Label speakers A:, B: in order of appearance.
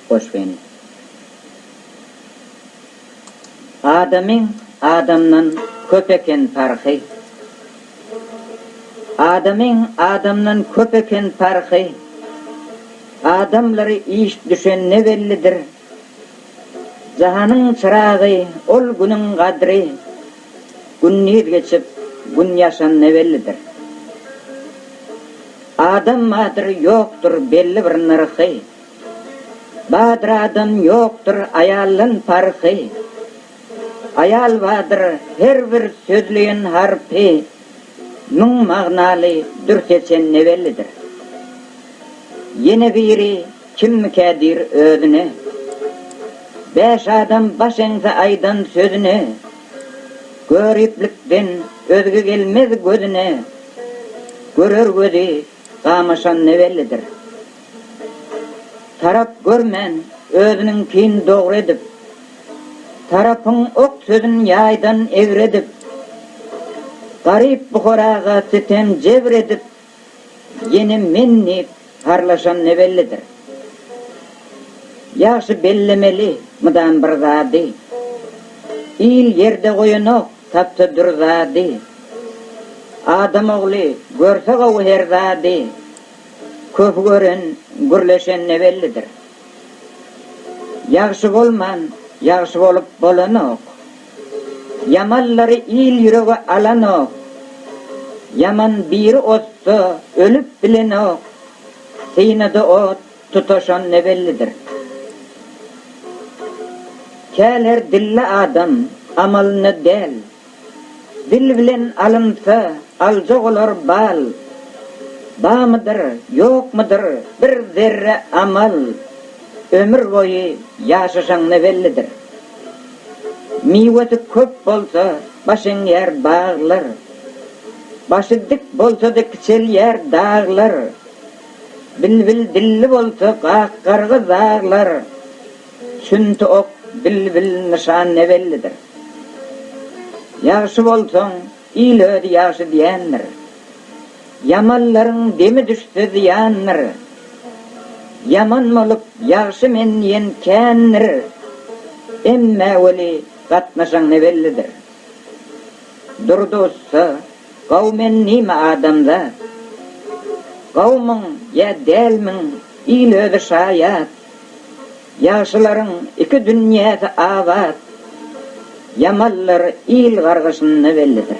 A: Hoş geldiň. Adamyň adamdan köp eken parhy. Adamyň adamdan köp eken parhy. Adamlary iş düşen ne bellidir. Jahanyň çyragy ol günüň gadry. Gündiz geçip gün ýaşan ne bellidir. Adam badyr ýokdur belli bir nyrhy. Badyradan ýokdur aýaldan parhy, Aýal badyr her bir sözleýen harpy, Müň magnaly dür seçen ne bellidir. Ýene biri kimmikä diýr özüne, Bäş adam baş eňse aýdan sözüne, Göriplikden özge gelmez gözüne, Görer gözi gamaşan ne bellidir. Tarap görmän, özüniňkin dogry edip. Tarapyň ok sözün ýaýdan egri edip. Garyp bukaraga sütem jebr edip. Ýene men diýip harlaşan ne bellidir. Ýagşy bellemeli mydam bir zady. Il ýerde goýanok tapsa dür zady. Adam ogly görse gowy her zady. Köp gören, gürleşen ne bellidir. Ýagşy bolman, ýagşy bolup bolanok. Ýamanlary il ýürege alanok. Ýaman biri otda ölüp bilenok. Synada ot tutaşan ne bellidir. Käl her dilli adam, amalynda däl. Dil bilen alynsa, aljak olar bal. Bamydyr, ýokmydyr bir zerre amal. Ömür boýy ýaşaşaň ne bellidir. Miwesi köp bolsa, baş eňýär baglar. Başy dik bolsa-da kiçelýär daglar. Bilbil dilli bolsa, gak-garga zaglar. Sünti ok, bilbil nyşan ne bellidir. Ýagşy bolsaň, il özi ýagşy diýendir. Ýamanlaryň demi düşse zyýandyr. Ýaman bolup, ýagşy men diýen kändir. Emmä weli gatnaşan ne bellidir. Durdy ussa, Gaw men nime adamzat? Gawmyň ýa dälmiň, il özi şaýat. Ýagşylaryň iki dünýäsi abat, ýamanlar il gargyşynda bellidir.